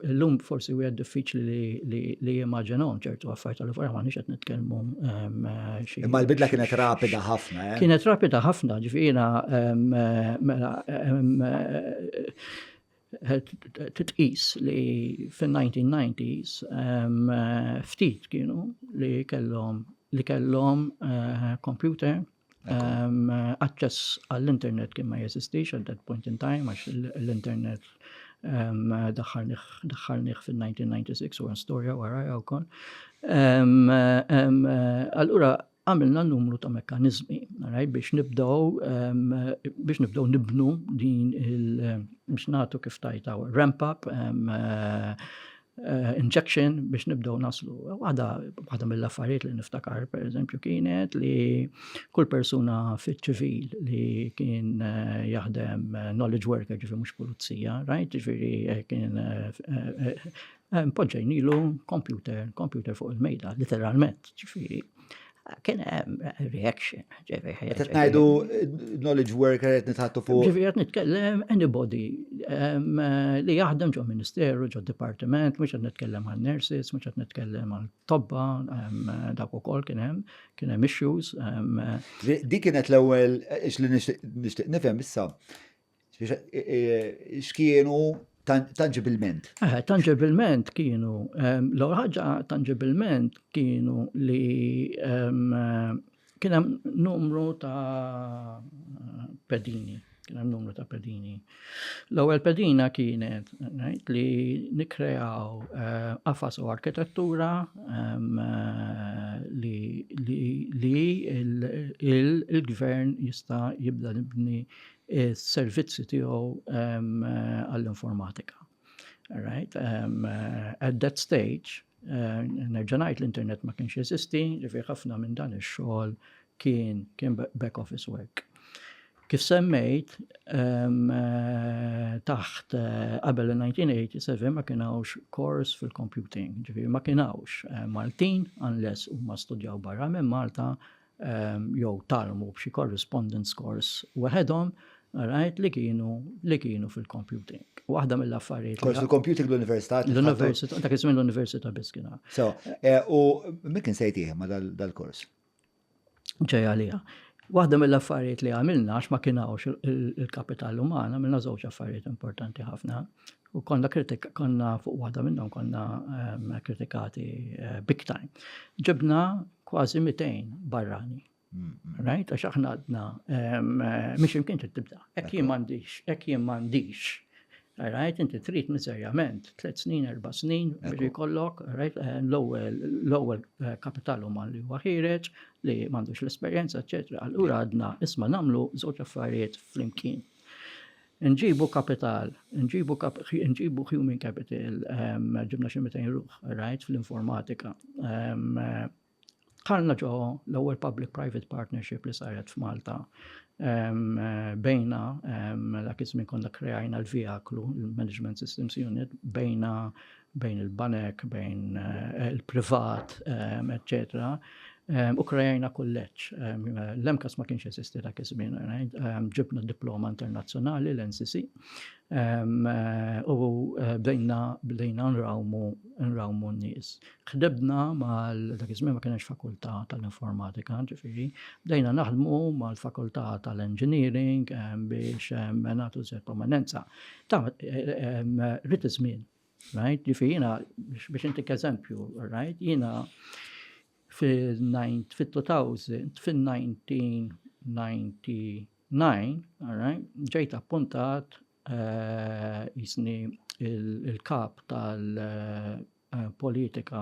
Illum forsi wieħed diffiċli li jimmaġinahom ċertu affarijiet tal fuq m'għandniex qed nitkellmu ehm, xi. Imma l-bidla kienet rapida ħafna, eh? Kienet rapida ħafna, ġifiera ehm, mela ehm, eh, titqis li fin-1990s ftit kienu li kellhom li kellhom eh, computer Aċċess għall-internet kien ma jeżistix at that point in time, għax l-internet daħħalnieh fil-1996 u għan storja wara għaw kon. Allura, għamilna numru ta' mekanizmi, għaraj, biex nibdow, biex nibdow nibnu din il- biex natu kif tajtaw ramp up, Eh, injection biex nibdew naslu. Waħda mill-affarijiet li niftakar, per eżempju, kienet li kull persuna fit-ċivil li kien eh, jaħdem eh, knowledge worker, ġifi mux pulizija, right? Ġifiri kien poġġejnilu computer, computer fuq il-mejda, literalment, ġifiri. kien hemm reaction. Qed ngħidu knowledge worker qed nitħattu fuq. Ġifieri qed nitkellem anybody li jaħdem ġo ministeru, ġo dipartiment, mhux qed nitkellem għal nurses, mhux qed nitkellem għal tobba, dak ukoll kien hemm, kien hemm issues. Dik kienet l-ewwel li nixtieq nifhem issa. X'kienu tangibilment? Eh, tangibilment kienu, l-ewwel ħaġa tangibilment kienu li kien hemm numru ta' pedini, kien hemm numru ta' pedini. L-ewwel pedina kienet li nikreaw eh, qafas u arkitettura li il-gvern jista' jibda nibni is-servizzi tiegħu għall-informatika. Right? Um, at that stage, uh, nerġa' ngħid l-internet ma kienx jeżisti, li fi ħafna minn dan ix-xogħol kien kien back office work. Kif semmejt, um, uh, taħt uh, qabel uh, 1987 ma kien hawnx kors fil-computing, ġifieri ma kien hawnx uh, Maltin unless huma studjaw barra minn Malta jew talmu b'xi correspondence course weħedhom, right, li kienu li kienu fil-computing. Waħda mill-affarijiet. Kors il-computing l-Università. L-Università, dak iż-żmien l-Università biss kien. So, eh, u min kien sejtih ma dal-kors? Ġej għalija. Waħda mill-affarijiet li għamilna għax ma kien hawnx il-kapital umana, għamilna żewġ affarijiet importanti ħafna. U konna kritik, konna fuq waħda minnhom konna ehm, kritikati eh, big time. Ġibna kważi 200 barrani. Mm, mm. Right? Għax aħna għadna, ehm, eh, miex imkien trid tibda. Ek jien m'għandix, ek jien m'għandix. Right, inti trid miserjament, tliet snin, erba' snin, biex jkollok, right, eh, l-ewwel kapital uman li huwa ħireġ, li m'għandux l-esperjenza, eċetera. Allura għadna isma' nagħmlu żewġ affarijiet flimkien. Inġibu kapital, inġibu inġibu human capital, ġibna xi 200 ruħ, rajt fl-informatika. Dħalna ġo l-ewwel public-private partnership li saret f'Malta. Bejna dak iż-żmien konna krejajna l-VIAKLU, il-Management Systems Unit, bejna bejn il-banek, bejn il-privat, eċċetera, u krejajna kulleġġ. L-MCAS ma kienx jeżisti dak iż-żmien, ġibna diploma internazzjonali l-NCC u bdejna bdejna nrawmu nrawmu n-nies. Ħdibna mal dak iż-żmien ma kienx fakultà tal-informatika, ġifieri, bdejna naħdmu mal-fakultà tal-engineering biex nagħtu żjed prominenza Ta' rrit iż-żmien, right? Li fina biex intik eżempju, right? Jiena fil-2000, fil-1999, right? Ġejt appuntat jisni il-kap tal-politika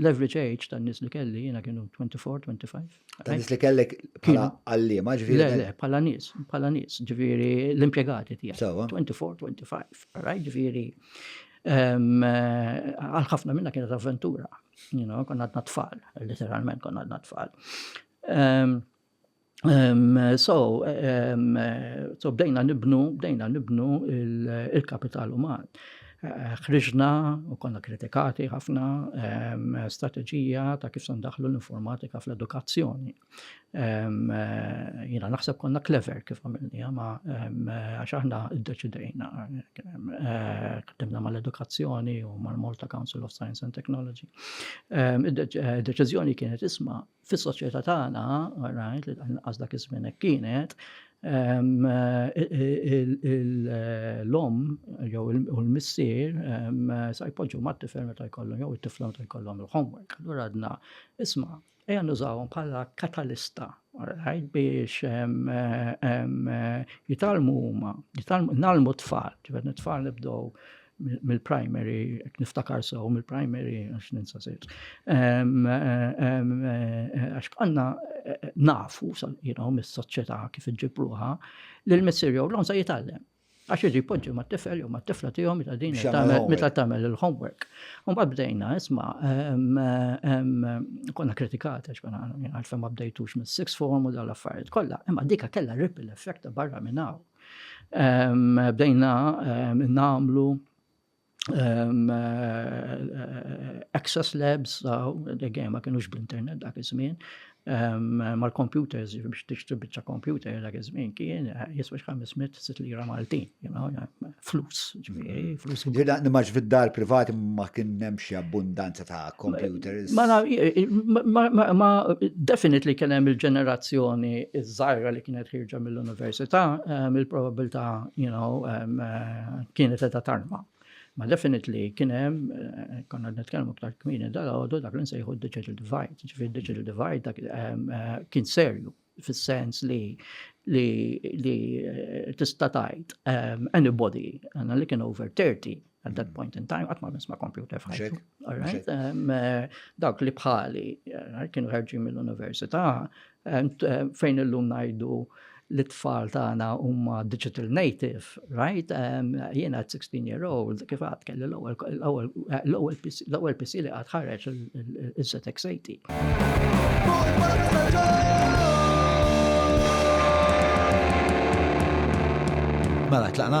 L-average age ta' nis li kelli jiena kienu 24-25. Ta' nis li kellek bħala għallima ġviri. Le, le, bħala nis, bħala nis, ġviri l-impiegati tija. 24-25, raj ġviri. Għal-ħafna minna kienet avventura, konna għadna tfal, literalment konna għadna tfal. Um, so, um, so bdejna nibnu, bdejna nibnu il-kapital il uman. Eh, ħriġna u konna kritikati ħafna um, strategija ta' kif sandaħlu l-informatika fl-edukazzjoni. Um, jina naħseb konna clever kif għamilni, ma um, għax aħna id-deċidejna. Ktemna eh, mal-edukazzjoni u mal-Malta Council of Science and Technology. Id-deċizjoni kienet isma' Fis-soċjetà tagħna, rajt li anqas dak iż-żmien hekk kienet, l-omm jew u l-missier sa jpoġġu mat-tifel meta jkollhom jew it-tifla meta jkollhom il-homework. Allura għadna, isma' ejja nużawhom bħala katalista biex jitalmu huma, jitalmu nagħlmu t-tfal, ġifier t-tfal nibdew mill-primary, niftakar sew mill-primary, għax ninsa sejt. Għax bħalna eh, nafu, jinaw, mis-soċjetà kif iġibruħa, li l-missir jew l-onsa jitallem. Għax iġi poġġi ma' tifel jew ma' tifla tiegħu meta din meta tagħmel il-homework. U ma bdejna, isma' konna kritikat għax konna għalfejn ma bdejtux mis-six form u dal-affarijiet kollha, imma dika kellha ripple effect barra minn hawn. Bdejna nagħmlu access labs, dejjem ma kienux bl-internet dak iż-żmien, mal-computers, biex tixtri biċċa computer dak iż-żmien kien jiswa xi 500 lira Maltin, flus. Ġmieri, flus. Ġirda, nimax fid-dar privati ma kien hemm xi abbundanza ta' computers. Ma naf, ma definitely kien hemm il-ġenerazzjoni iż-żgħira li kienet ħirġa mill-università, ehm, il-probabilità, you know, ehm, kienet qed tarma. Ma definitely kien hemm, eh, konna nitkellmu aktar kmieni dal-għodu dak li nsejħu digital divide, ġifieri digital divide dak ehm, eh, kien serju. fis-sens li li li eh, tista' tgħid um, anybody għandna li kien over 30 at that point in time qatt ma nisma' computer f'ħajtu. Um, eh, dawk li bħali eh, kienu ħarġin mill-università fejn illum ngħidu li tfal tagħna huma digital native Right, um, jien għad 16 year old, kif għad kelli l-ewel PC li għad ħarreċ il-Zetex 80. Mela, tlaqna?